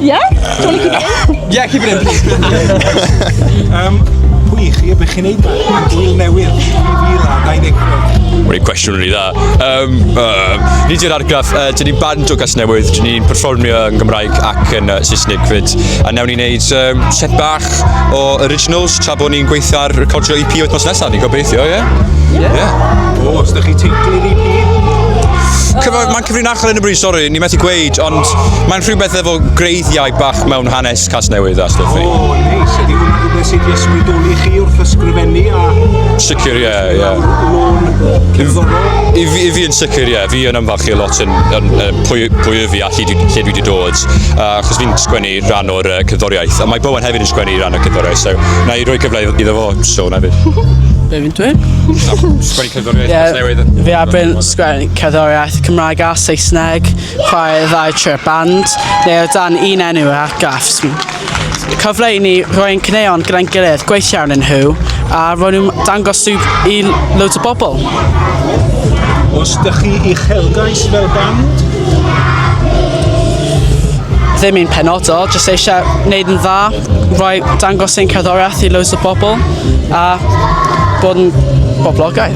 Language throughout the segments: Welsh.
Yeah? Do you want to keep it in? Yeah, keep it in, please. um, pwy chi y bych chi'n neud ma? Gwyl newydd, 2025. Mae'n cwestiwn rili dda. Um, uh, ni di'r argraff, uh, dyn ni'n band o gas newydd, dyn ni'n performio yn Gymraeg ac yn uh, Saesneg fyd. A newn ni'n neud um, set bach o originals tra bod ni'n gweithio ar recordio EP oedd mas nesaf, ni'n gobeithio, ie? Yeah? Yeah. yeah. O, os da chi teitl i'r EP? Cyfan, Cyfrin achor yn y bryd, sori, ni methu gweud, ond mae'n rhywbeth efo greiddiau bach mewn hanes Casnewydd a stwff. O, oh, neis. Ydy hwnna rhywbeth sydd wedi ysbrydoli chi wrth ysgrifennu a... Sicr, ie, ie. I fi, fi yn sicr, ie. Fi yn ymfachu lot yn, yn, yn pwy, pwy y fi a lle, lle dwi wedi dod. Uh, achos fi'n sgwennu rhan o'r uh, cyddoriaeth. A mae Bowen hefyd yn sgwennu rhan o'r cyddoriaeth. So, na i roi cyfle iddo fo, so, na fi. Be fi'n dweud? Sgwennu cyddoriaeth yeah, newydd. Fi a Ben sgwennu cerddoriaeth, Cymraeg a Saesneg, chwarae ddau trwy'r band, neu o dan un enw yr argraffs. Cyfle i ni roi'n cyneuon gyda'n gilydd, gweithio arnyn nhw, a ro'n nhw'n dangos nhw i loads o bobl. Os da chi i uchelgais fel band? Ddim un penodol, jyst eisiau gwneud yn dda, roi dangos ein cerddoriaeth i loads o bobl, a bod yn boblogaidd.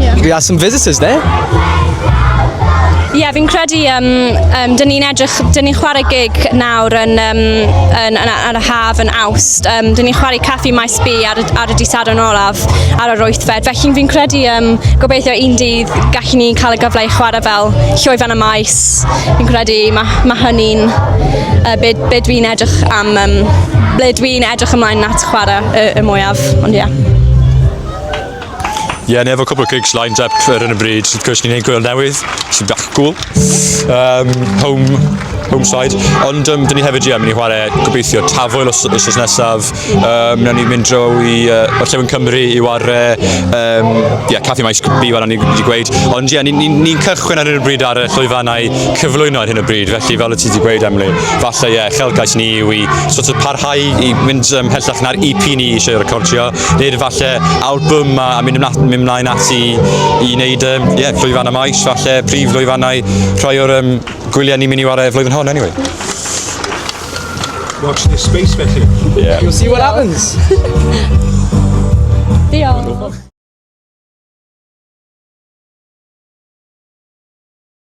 Yeah. We are some visitors there. Ie, yeah, fi'n credu, um, um, dyn ni'n edrych, dyn ni'n chwarae gig nawr yn, um, yn, yn, yn y haf yn awst. Um, dyn ni'n chwarae Caffi Maes B ar, ar y disad yn olaf ar yr oethfed. Felly fi'n credu um, gobeithio un dydd gallu ni cael y gyfle i chwarae fel llwyfan y maes. Fi'n credu mae ma hynny'n uh, byd, byd fi'n edrych am, um, ble dwi'n edrych ymlaen nat chwarae y, y mwyaf. Ond ie. Yeah. Ie, yeah, ni efo cwbl o gigs lined up ar yn y bryd. Wrth gwrs, ni'n ein gwyl newydd, sy'n bach cool. Um, home, home side. Ond um, dyn ni hefyd, ie, yeah, mynd i chwarae gobeithio tafwyl os, os, os nesaf. Um, na ni'n mynd dro i uh, Orllewin Cymru i ware, um, yeah, Caffi Maes Bi, fel ni wedi gweud. Ond ie, yeah, ni'n ni, ni, ni cychwyn ar hyn o bryd ar y llwyfannau cyflwyno ar hyn o bryd. Felly, fel y ti wedi gweud, Emily, falle, ie, yeah, chelgais ni yw i sort of parhau i mynd um, hellach na'r EP ni eisiau recordio. nid falle album a, a mynd, ymlaen, mynd ymlaen ati i wneud um, yeah, llwyfannau maes, falle prif llwyfannau rhai o'r um, gwyliau ni'n mynd i wario flwyddyn hon, anyway. Watch this space felly. Yeah. You'll see what happens. Diolch.